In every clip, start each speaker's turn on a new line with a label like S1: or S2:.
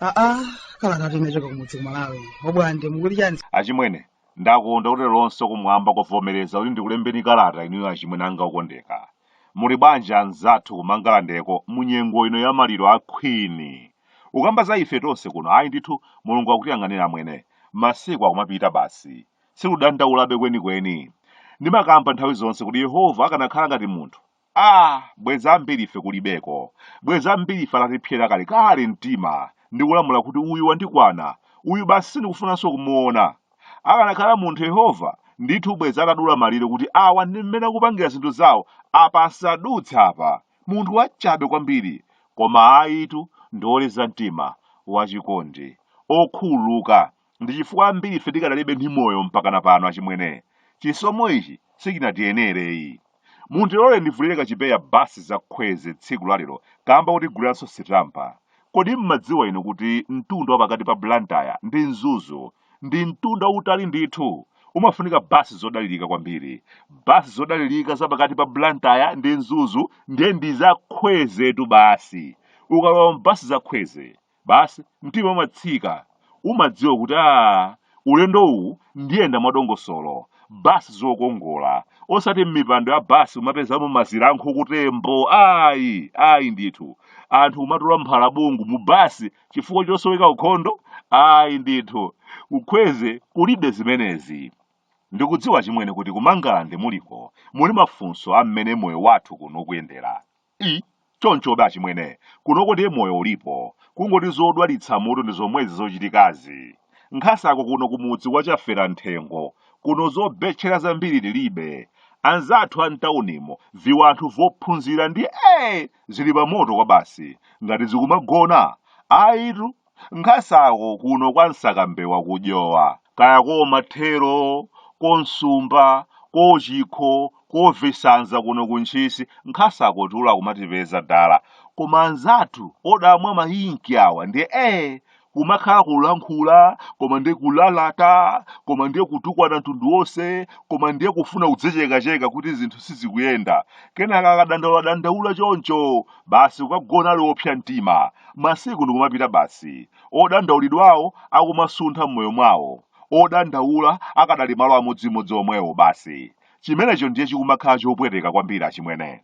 S1: aa kala kati nachoka kumudzi kumalawi obwande mukuti chani achimwene
S2: Ndakonda kuti leronso kumwamba kwavomereza kuti ndikulembeni kalata inuyo achimwene anga okondeka. Muli bwanji anzathu ku Mangalandeko mu nyengo ino ya maliro a Queen? Ukamba za ife tonse kuno ayi ndithu Mulungu akutiyang'anira amwene. Masiku akumapita basi. Siludandaulabe kwenikweni. Ndimakamba nthawi zonse kuti Yehova akanakhala ngati munthu Aaa bwezi ambiri ife kulibeko, bwezi ambiri ife atatipsera kalekale mtima ndi kulamula kuti uyu wandikwana, uyu basi sindikufunanso kumuona. Akanakhala munthu Yehova, ndithu bwezi atadula malire kuti awa ndi mmene akupangira zinthu zawo, apa asadutse apa. Munthu wachabe kwambiri. Koma ayitu, ndi woleza mtima, wachikondi, okhululuka, ndi chifukwa ambiri ife tikadalibe ndi moyo mpakana pano achimwene chisomo ichi sichinatiyenereyi muntilole ndivulire kachipeya basi zakhweze tsiku lalero kamba kuti agulanso sitampa kodi mmadziwa inu kuti mtunda wa pakati pa blantyre ndi mzuzu ndi mtunda wautali ndithu umafunika basi zodalirika kwambiri basi zodalirika za pakati pa blantyre ndi mzuzu ndiye ndi zakhwezetu basi ukalowa mbasi zakhweze Basi mtima umatsika. Umadziwa kuti aah ulendo uwu ndiyenda mwadongosolo. Basi zokongola. Osati mmipando ya basi kumapezamo mazira a nankhututembo ayi! Ayi ndithu. Anthu kumatola mphalabungu mu basi chifukwa chosoweka ukhondo? Ayi ndithu. Ku Khweze kulibe zimenezi. Ndikudziwa achimwene kuti ku Mangalande muliko muli mafunso a mmene moyo wathu kuno ukuyendera. I, chonchobe achimwene kunoko ndiye moyo ulipo kungoti zodwalitsa mutu ndi zomwezi zochitikazi nkhasako kuno kumudzi kwa Chafera mthengo kuno zobetchera zambiri tilibe anzathu a mtaunimo viwanthu vophunzira ndi ee zili pamoto kwabasi ngati zikumagona ayitu Nkhasako kuno kwa Msakambewa ku Dyowa, kaya koo Mathero, koo Msumba, koo Chikho, koo Visanza kuno ku Ntchisi nkhasako tulo akumatipeza dala koma anzathu odamwa ma ink awa ndiye ee kumakhala kulankhula koma ndiye kulalata koma ndiye kutukwana mtundu wonse koma ndiye kufuna kudzichekacheka kuti zinthu sizikuyenda kenaka akadandaula dandaula choncho Basi kukagona ali opsa mtima, masiku ndikumapita basi. Odandaulidwawo akumasuntha m'moyo mwawo. Odandaula akadali malo amodzimodzi omwewo basi. Chimenecho ndiye chikumakhala chopweteka kwambiri achimwene.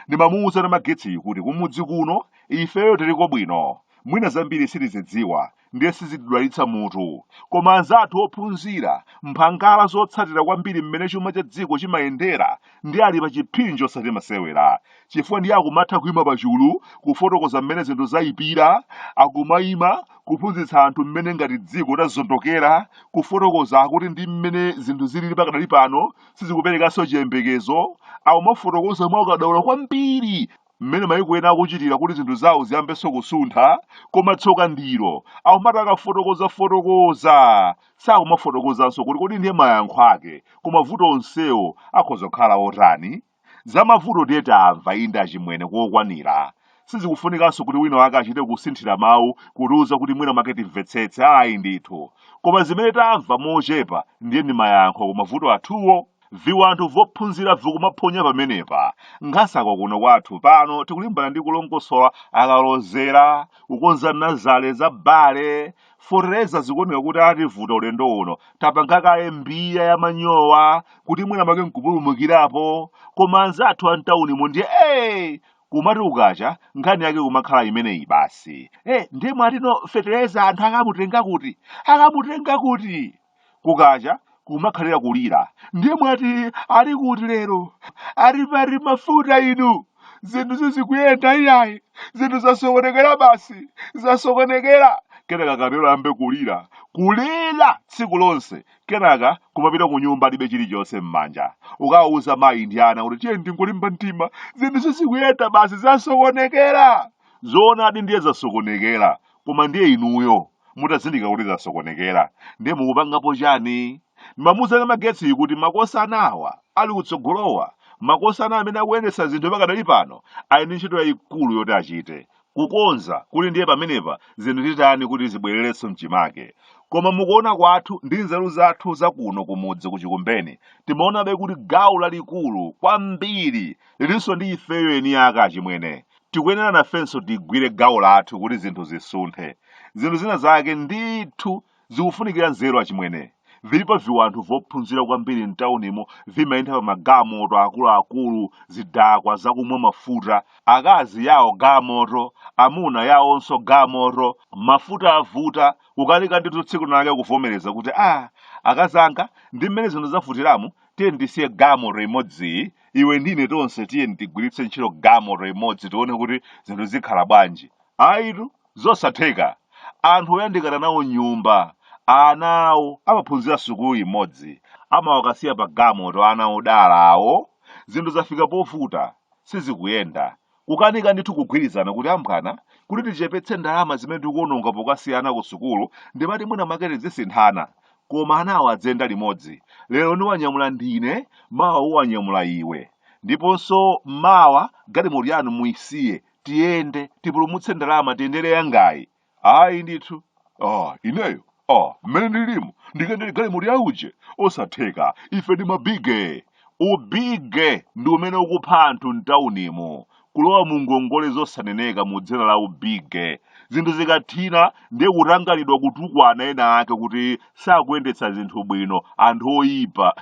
S2: Ndimamuuza Namagetsiyu kuti kumudzi kuno ifeyo tiliko bwino. Mwina zambiri sitizidziwa, ndiye sizitidwalitsa mutu koma anzathu ophunzira mphangala zotsatira kwambiri mmene chuma cha dziko chimayendera ndi ali pa chiphinjo osati masewera chifukwa ndiye akumatha kuima pachulu kufotokoza mmene zinthu zayipira akumaima kuphunzitsa anthu mmene ngati dziko tazondokera kufotokoza akuti ndi mmene zinthu zilili pakadali pano sizikuperekanso chiyembekezo akumafotokoza mwa ukadaulo kwambiri mmene maiko ena akuchitira kuti zinthu zawo ziyambenso kusuntha koma tsoka ndilo akumati akafotokoza fotokoza sakumafotokozanso kuti kodi ndiye mayankho ake ku mavuto onsewo akhoza kukhala otani za mavuto ndiye tamva inde achimwene kokwanira sizikufunikanso kuti wina wake achite kusinthira mawu kutiuza kuti mwina make timvetsetse ayi ndithu koma zimene tamva mochepa ndiye ndi mayankho ku mavuto athuwo Viwanthu vophunzira vikumaphonya pamenepa. Nkhasako kuno kwathu pano tikulimbana ndi kulongosola akalozera, kukonza nazale za bale, fotereza zikuoneka kuti ativuta ulendo uno, tapanga kaye Mbeya ya manyowa kuti mwina make nkupulumukirapo, koma anzathu a mtaunimo ndiye ee! kumati kukacha nkhani yake kumakhala imeneyi basi. Eh, ndiye mwatino fetereza anthu akamutenga kuti? Akamutenga kuti? kukacha kumakhalira kulira ndiye mwati ali kuti lero ali pati mafuta inu zinthu sizikuyenda iyayi zinthu zasokonekera basi zasokonekera kenaka kapelo ayambe kulira kulira tsiku lonse kenaka kumapita ku nyumba alibe chilichonse m'manja kukawauza mayi ndi ana kuti tiyeni tingolimba mtima zinthu sizikuyenda basi zasokonekera zoonadi ndiye zasokonekera koma ndiye inuyo mutazindikira kuti zasokonekera ndiye mukupangapo chani mamuuza namagetsi kuti makosana awa ali kutsogolowa makosana amene akuyendetsa zinthu pakadali pano ali ndi ntchito yayikulu yoti achite kukonza kuti ndiye pamenepa zinthu titani kuti zibwererenso mchimake koma mukuona kwathu ndi nzeru zathu zakuno kumudzi kuchikumbeni timaonabe kuti gawo lalikulu kwambiri lilinso ndi ifeyo eni ake achimwene Tikuyenera nafenso tigwire gawo lathu kuti zinthu zisunthe. Zinthu zina zake ndithu zikufunikira nzeru achimwene. Vilipo viwanthu vophunzira kwambiri m'taunimo vimayenda pa magamoto akuluakulu, zidakwa zakumwa mafuta, akazi yao gamoto, amuna yaonso gamoto, mafuta avuta, kukanika ndithu tsiku lina lake kuvomereza kuti, ah, akazanga, ndi mmene zinthu zavutiramu, tiyeni tisiye gamoto imodziyi iwe ndi ine tonse tiyeni tigwiritse ntchito gamoto imodzi tione kuti zinthu zikhala bwanji ayitu zosatheka anthu oyandikana nawo nyumba ana awo amaphunzira sukulu imodzi amawakasiya pa gamoto ana odala awo zinthu zafika povuta sizikuyenda Kukanika ndithu kugwirizana kuti ambwana, kuti tichepetse ndalama zimene tikuononga pokasiya ana kusukulu ndi kumati mwina mwake tidzisinthana. Koma anawa adziyenda limodzi. Lero niwanyamula ndine, mawa uwanyamula iwe. Ndiponso mawa galimoto yanu muisiye, tiyende, tipulumutse ndalama tiyendere yangayi. ayi ndithu ah, ineyo ah, mmene ndilimo ndikayendere galimoto ya uje osatheka ife ndi mabige ubige ndi umene ukupha anthu mtaunimu kulowa mu ngongole zosaneneka mu dzina la ubige zinthu zikathina ndiye kutanganidwa kutukwana ena ake kuti sakuyendetsa zinthu bwino anthu oyipa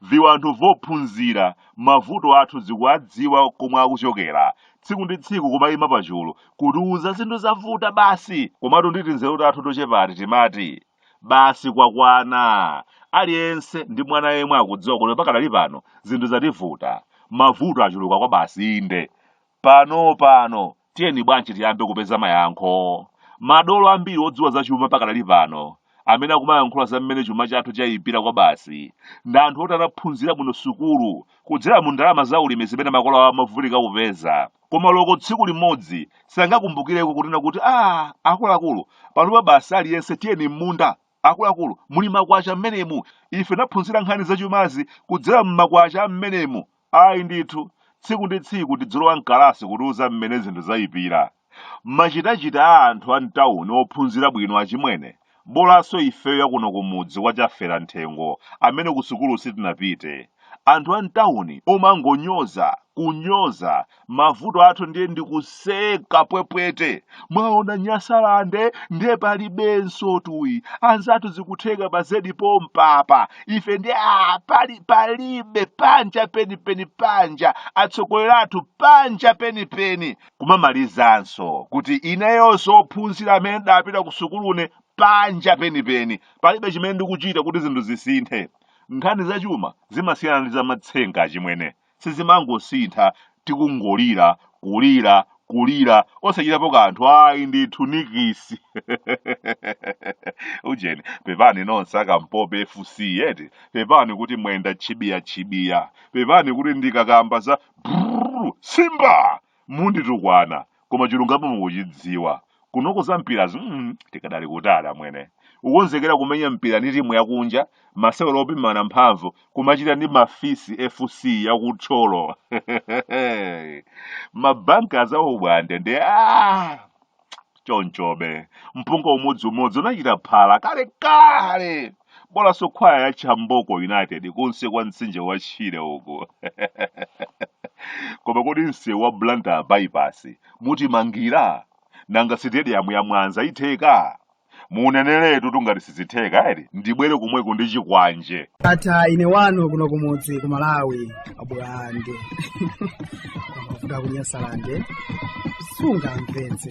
S2: viwanthu vophunzira mavuto athu zikuwadziwa komwe akuchokera tsiku ndi tsiku kumayima pachulu kutiuza zinthu zavuta basi komatu ndi tinzeru tathu tochepati timati basi kwakwana aliyense ndi mwana yemwe akudziwa kuti pakadali pano zinthu zativuta mavuto achuluka kwa basi inde pano pano tiyeni bwanji tiyambe kupeza mayankho madolo ambiri odziwa zachuma pakadali pano amene akumayankhula za mmene chuma chathu chayipira kwabasi ndi anthu oti anaphunzira bwino sukulu kudzera mu ndalama za ulimi zimene makolo awo amavutika kupeza koma loko tsiku limodzi sangakumbukireko kunena kuti a akuluakulu panopa basi aliyense tiyeni m'munda akuluakulu muli makwacha mmenemu ife naphunzira nkhani zachumazi kudzera m'makwacha mmenemu Ayi ndithu, tsiku ndi tsiku tidzilowa m'kalasi kutiuza mmene zinthu zaipira. Machitachita a anthu a m'tauni ophunzira bwino achimwene, bolanso ifeyo akuno kumudzi kwa Chafera Mthengo amene kusukulu sitinapite. Anthu a m'tauni omangonyoza, kunyoza, mavuto athu ndiye ndikuseka pwepwete mwaona nyasalande ndiye palibenso tuyi anzathu zikutheka pa zedi pompapa ife ndiye palibe panja penipeni panja atsogoleri athu panja penipeni kumamalizanso kuti ineyonso ophunzira amene ndapita ku sukulune panja penipeni palibe chimene ndikuchita kuti zinthu zisinthe nkhani zachuma zimasiyana ndi zamatsenga chimwene sizimangosintha tikungolira kulira kulira osachitapo kanthu ayi ndithu nikisi ujeni pepani nonse akampope fc yeti pepani kuti mwenda chibiya chibiya pepani kuti ndikakamba za brrr, simba munditukwana koma chilungamo mukuchidziwa kunoko za mpirazi mm, tikadali kutali amwene ukonzekera kumenya mpira ndi timu yakunja masewero opimana mphamvu kumachita ndi mafisi fc yakuThyolo mabanka azawo bwande ndi ah! chonchobe mpunga umodziumodzi unachita phala kalekale bolanso khwaya ya chamboko united kunsi kwa mtsinje wa shire uku koma kodi msewu wa blantyre bypass mutimangira nanga sitediyamu ya mwanza itheka muneneretu tu ngati sizitheka eti ndibwere komweko ndi chikwanje ata
S1: ine wanu kuno kumudzi ku malawi abulande amavuta kunyasalande sungamvetse